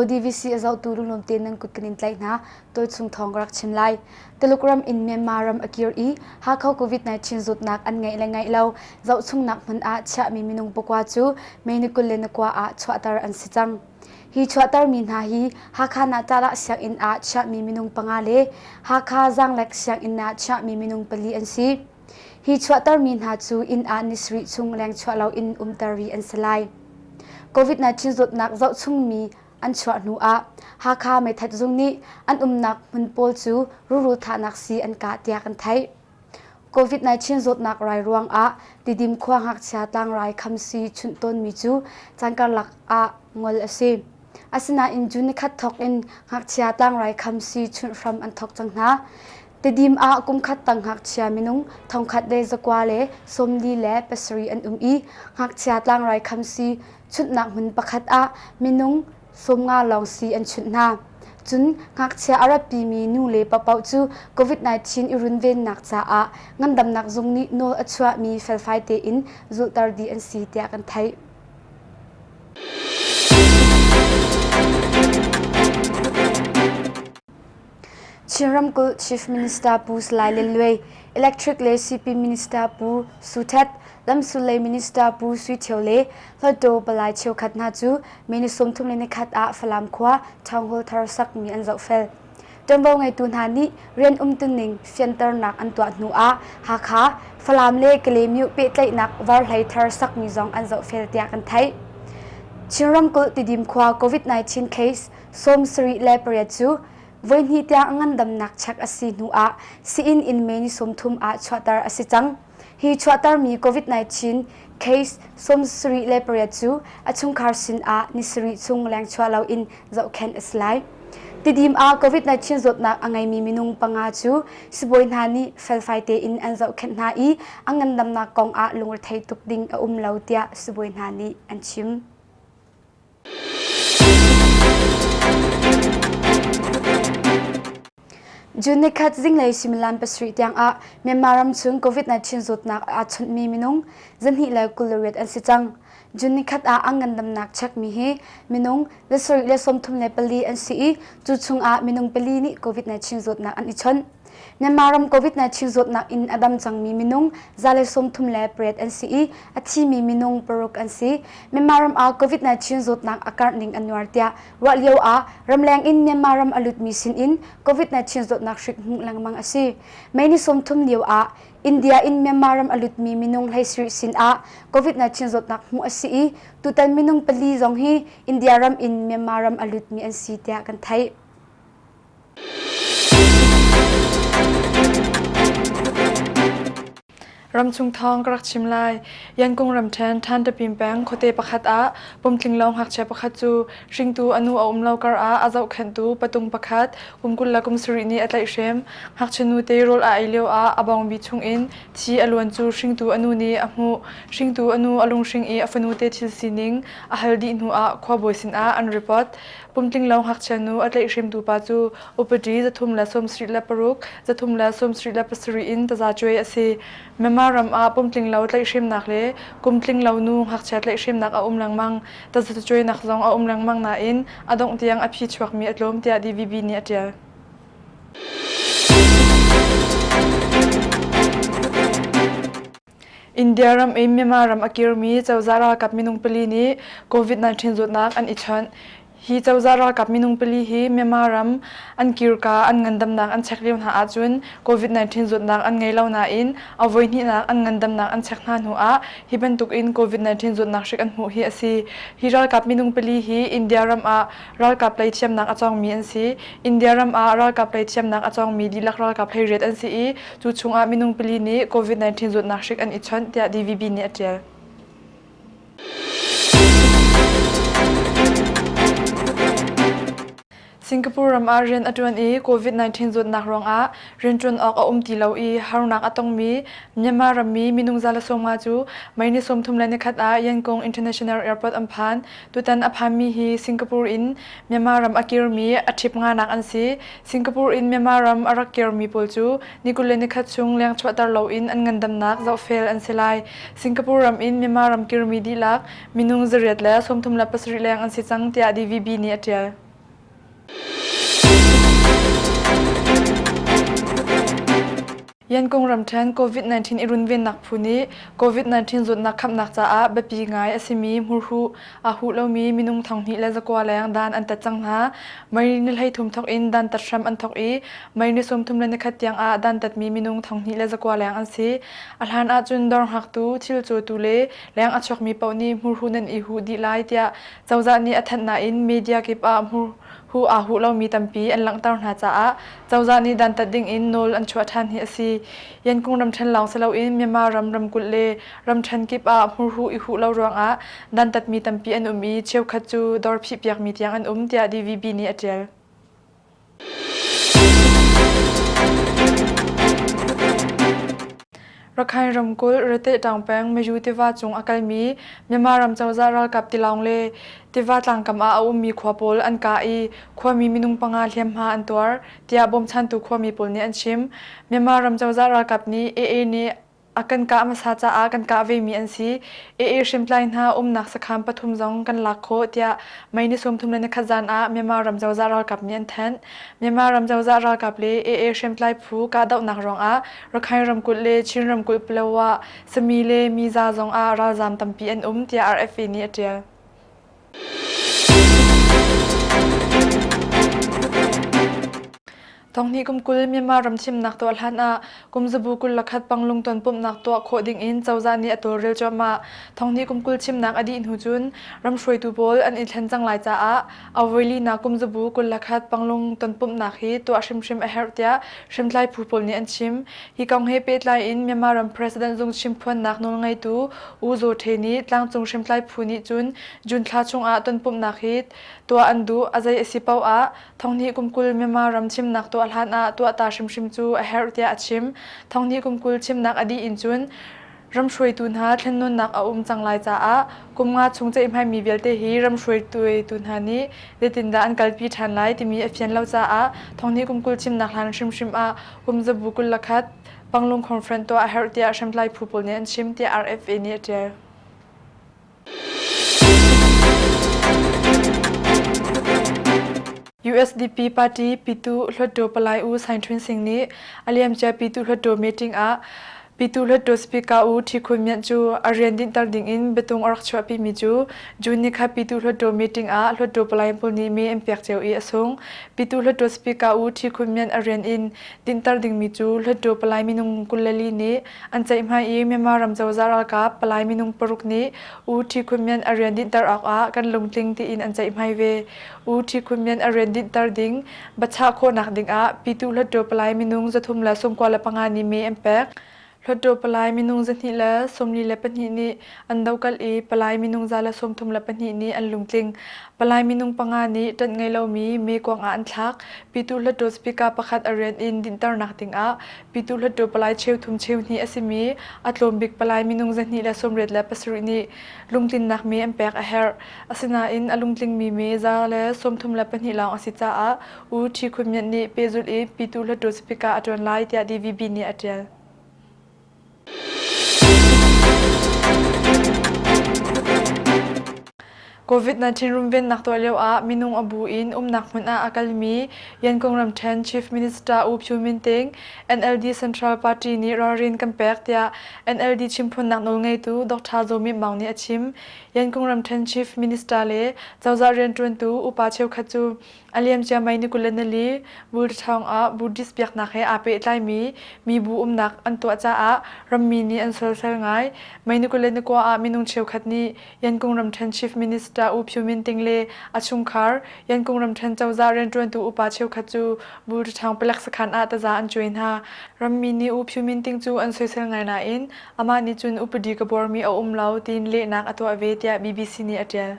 DVC a zotu runglawmte nan kut kan in tlaih hna. Tawi chung thawng ka rak chim lai. Tuluk ram in Myanmar ram a kir i Hakha COVID-19 zutnak an ngeih le ngeih lo zohchungnak hmun ah chiahmi minung pakua cu Meinakul le Nakwa ah chuahter an si cang. Hi chuahtermi hna hi Hakha Nahtalah sianginn ah chiahmi minung panga le Hakha Zaanglek sianginn ah chiahmi minung pali an si. Hi chuahtermi hna cu inn ah ni sarih chung lengchuah loin umter rih an si lai. COVID-19 zawtnak zohchungmi an chuah hnu ah Hakha meithat zung nih an umnak hmun pawl cu ruru thahnak sii an kah tiah kan theih. COVID-19 zawtnak rai ruangah Tidim khua ngakchia tlangrai khamsi chunh tawnmi cu can karlak ah ngol a si. Asinain June ni khat thawk in ngakchia tlangrai khamsi chunh hram an thawk cang hna. Tidim ah kum khat tang ngakchia minung thongkhat le zakwa le sawmli le pasarih an um i ngakchia tlangrai khamsi chuntnak hmun pakhat ah minung sawm nga lawng si an chunh hna. Cun ngakchia a rapimi nu le paoh cu COVID-19 i runvennak caah ngandamnak zung nih nawl a chuahmi felfai tein zulhter dih an si tiah kan theih. Chin ramkulh Chief Minister Pu Salai Lian Luai, Electric le Sipin Minister Pu Su Htet, Lamsulei Minister Pu Sui Thio le Hluttaw palai cheukhat hna cu May ni sawmthum le nikhat ah Falam khua Town Hall thar sakmi an zohfel. Ṭuanvo ngeitu hna nih rian umtuning fianternak an tuah hnu ah Hakha, Falam le Kalaymyo pehtlaihnak varhlei thar sakmi zong an zohfel tiah kan theih. Chin ramkulh Tidim khua COVID-19 case Sawm sarih le pariat cu voihnih tiang a ngandamnak check a si hnu ah sii-inn in May ni sawmthum ah chuahter a si cang. Hi chuahtermi COVID-19 case sawm sarih le pariat cu a chungkhar sin ah ni sarih chung lengchuah lo in zohkhenh a si lai. Tidim ah COVID-19 zawtnak a ngeimi minung panga cu sibawi hna nih felfai tein an zohkhenh hna i a ngandamnak kong ah lungrethei tuk ding a um lo tiah sibawi hna nih an chim. June ni khat zinglei suimilam pasarih tiangah Myanmar ramchung COVID-19 zawtnak aa chawnh mi minung zarhnih le kul le riat an si cang. June ni khat ah an ngandamnak chekmi hi minung le sarih le sawmthum le pali an si i, cu chungah minung pali nih COVID-19 zawtnak an i chawnh. Myanmar ram COVID-19 zawtnak in a dam cangmi minung zale sawmthum le pariat an si i a thimi minung paruk an si. Myanmar ram ah COVID-19 zawtnak a karh ning an nuar tiah ruah lio ah ramleng in Myanmar ram a lutmi sin in COVID-19 zawtnak hrik hmuh lengmang a si. Mei ni sawmthum lio ah India in Myanmar ram a lutmi minung hleisiri sin ah COVID-19 zawtnak hmuh a si i tutan minung pali zong hi India ram in Myanmar ram a lutmi an si tiah kan theih. Ramchung thawng ka rak chim lai. Yankung ramṭhen Than Tapim peng khuate pakhat ah pumtlinglo ngakchia pakhat cu hringtu a nu a um lo kar ah a zohkhenhtu patung pakhat kum kul le kum sarih nih a tlaihhrem. Ngakchia nute rawl a ei lio ah a bawngbi chungin thi a luan cu hringtu a nu nih a hmuh. Hringtu a nu a lunghring i a fanu te thil sining a hal dih hnu ah khuabawi sinah an ripot. Kumtlinglo ngakchianu a tlaihhrimtu pa cu upadi zathum le sawmsarih le paruk, zathum le sawmsarih le pasarih in tazacuai a si. Myanmar ram ah pumtlinglo tlaihhrimnak le kumtlinglo nu ngakchia tlaihhrimnak a um lengmang. Tazacuainak zong a um lengmang nain a dongh tiang a phi chuakmi a tlawm tiah DVB nih a ṭial. India ram in Myanmar ram a kirmi cozah ralkap minung pali nih COVID-19 zawtnak an i chawnh. Hi cozah ralkap minung pali hi Myanmar ram an kirka an ngandamnak an chek lio hna ahcun COVID-19 zawtnak an ngei lo nain a voihnihnak an ngandamnak an chek hna hnu ah hi bantuk in COVID-19 zawtnak hrik an hmuh hi a si. Hi ralkap minung pali hi India ram ah Ralkap lei thiamnak a cawngmi an si. India ram ah ralkap lei thiamnak a cawngmi dihlak ralkap hei riat an si i, cu chungah minung pili nih Covid-19 zawtnak hrik an i chawnh, tiah DVB nih a ṭial. Singapore ram ah rian a ṭuan i Covid-19 zawtnak ruangah rianṭuan awk a um ti lo i harnak a tongmi Myanmar rammi minung za le sawmnga cu May ni sawmthum le nikhat ah Yangon International Airport an phan. Tutan a phanmi hi Singapore in Myanmar ram a kirmi a ṭhip nganak an si. Singapore in Myanmar ram a rak kirmi pawl cu ni kul le nikhat chung leng chuahter loin an ngandamnak zohfel an si lai. Singapore ram in Myanmar ram kirmi dihlak minung zariat le sawmthum le pasarih leng an si cang tiah DVB nih a ṭial. Yankung ramṭhen COVID-19 i runvennak phu nih COVID-19 zawtnak khamhnak caah biapi ngai a simi hmurhuh aa huh lomi minung thanghnih le zakua leng dan an tat cang hna. Mei ni hleithum thawk in dantat hram an thawk i mei ni sawmthum le nikhat tiang ah dantatmi minung thanghnih le zakua leng an si. A hlan ahcun dawr hngaktu, thil cawtu le leng a chuakmi paoh nih hmurhuh nan i huh dih lai tiah Cozah nih a thanh nain media kip ah hu aa huh lomi tampi an langhter hna caah cozah nih dantat dingin nawl an chuah ṭhan hi a si. Yangon ramṭhen lawng si loin Myanmar ram ramkulh le ramṭhen kip ah hmurhuh i huh lo ruangah dantatmi tampi an um i cheukhat cu dawr phihpiakmi tiang an um tiah DVB nih a ṭial. Rakhine ramkulh Ritehtang peng Maju tiva cung a kalmi Myanmar ram cozah ralkap tilawng le tiva tlangkam ah a ummi khua pawl an kah i khuami minung panga hliamhma an tuar tiah bawmchantu khuami pawl nih an chim. Myanmar ram cozah ralkap nih AA nih A kan kah hmasa caah kan kah vemi an si. AA hrimtlai hna umnak sakham pathum zong kan lak khawh tiah May ni sawmthum le nikhat zan ah Myanmar ram cozah ralkap nih an thanh. Myanmar ram cozah ralkap le AA hrimtlai phu kahdohnak ruangah Rakhine ramkulh le Chin ramkulh Palawa, Sami le Miza zong ah ralzaam tampi an um tiah RFA nih a ṭial. Tonghnih kum kul Myanmar ram chimnak tuah hlanah kumzabu kul lakhat Panglung tonpumhnak tuah khawh dingin cozah nih a tawlrel cuahmah. Tonghnih kum kul chimnak a dih hnu cun ram hruaitu pawl an i thlen cang lai caah awilinak kumzabu kul lakhat Panglung tonpumhnak hi tuah hrimhrim a herh tiah hrimtlai phu pawl nih an chim. Hi kong he pehtlai in Myanmar ram President zung chimphuannak nawlngeitu U Zaw Hte nih tlangcung hrimtlai phu nih cun June thla chungah tonpumhnak hi tuah an duh, a zei a si paoh ah Thonghni kum kul Myanmar ram thimnak tuah hlan ah tuah ta hrimhrim cu a herh tiah a chim. Thonghni kum kul thimnak a dih in cun Ram hruaitu hna thlennawnnak a um cang lai caah kum nga chung ceihmaimi vialte hi ram hruaitu hna nih zeitindah an kalpi ṭhan lai timi a fian lo caah thonghnih kum kul thimnak hlan hrimhrim ah kumzabu kul le khat Panglong Conference tuah a herh tiah hriamtlai phu pawl nih an chim tiah RFA nih a ṭial. USDP party Pitu Hluttaw Palai U Sain Htun Singh nih a liamcia Pitu Hluttaw meeting ah Pitu Hluttaw Speaker U Hti Khun Myint cu a rian dinhter ding in biatung a rak chuahpi mi cu June ni kha Pitu Hluttaw meeting ah Hluttaw palai pawl nih mee an pek cio i a sung. Pitu Hluttaw Speaker U Hti Khun Myint a rian in dinhter ding mi cu Hluttaw palai minung kul le li nih An ceihmai i Myanmar ram cozah ralkap palai minung paruk nih U Thi Khun Myan a rian dinhter awkah kan lungtling tiin an ceihmai ve. U Thi Khun Myan a rian dinhter ding bachah khawhnak dingah Pyituh Hluttaw palai minung zathum le sungkua le panga nih mee an pek. Hluttaw palai minung zahnih le sawmli le pahnih nih an dokal i palai minung za le sawmthum le pahnih nih an lungtling. Palai minung panga nih ṭanh ngei lomi mee kuangah an thlak. Pyituh Hluttaw speaker pakhat a rian in dinhternak dingah Pyituh Hluttaw palai cheu thum cheu hnih a simi a tlawmbik palai minung zahnih le sawmriat le pasarih nih lungtlinnak me an pek a herh. Asinain a lungtlingmi me za le sawmthum le pahnih lawng a si caah U Ṭhi Khun Myint nih pehzulh i Pyituh Hluttaw sipika a ṭuan lai tiah DVB nih a ṭial. Covid-19 runvennak tuah lioah minung a bu in umnak hmun ah a kalmi Yankung ramṭhen Chief Minister U Pyu Min Thein NLD Central Party nih ralrin kan pek tiah NLD chimphunnak nawlngeitu Dr. Zaw Myint Maung nih a chim. Yankung ramṭhen Chief Minister le cozah rianṭuantu upa cheukhat cu A liamciammi ni kul le nali Buddha thawngah Buddhist biaknak he aa pehtlaimi mibu umnak an tuah caah rammi nih an soisel ngai. May ni kul le ni kua ah minung cheukhat nih Yankung ramṭhen Chief Minister U Pyu Min Ting le a chungkhar Yankung ramṭhen cozah rianṭuantu upa cheukhat cu Buddha thawng palek sakhan ah taza an cuai hna. Rammi nih U Pyu Min Ting cu an soisel ngai nain amah nih cun upadi ka buarmi a um lo tiin lehnak a tuah ve tiah BBC nih a ṭial.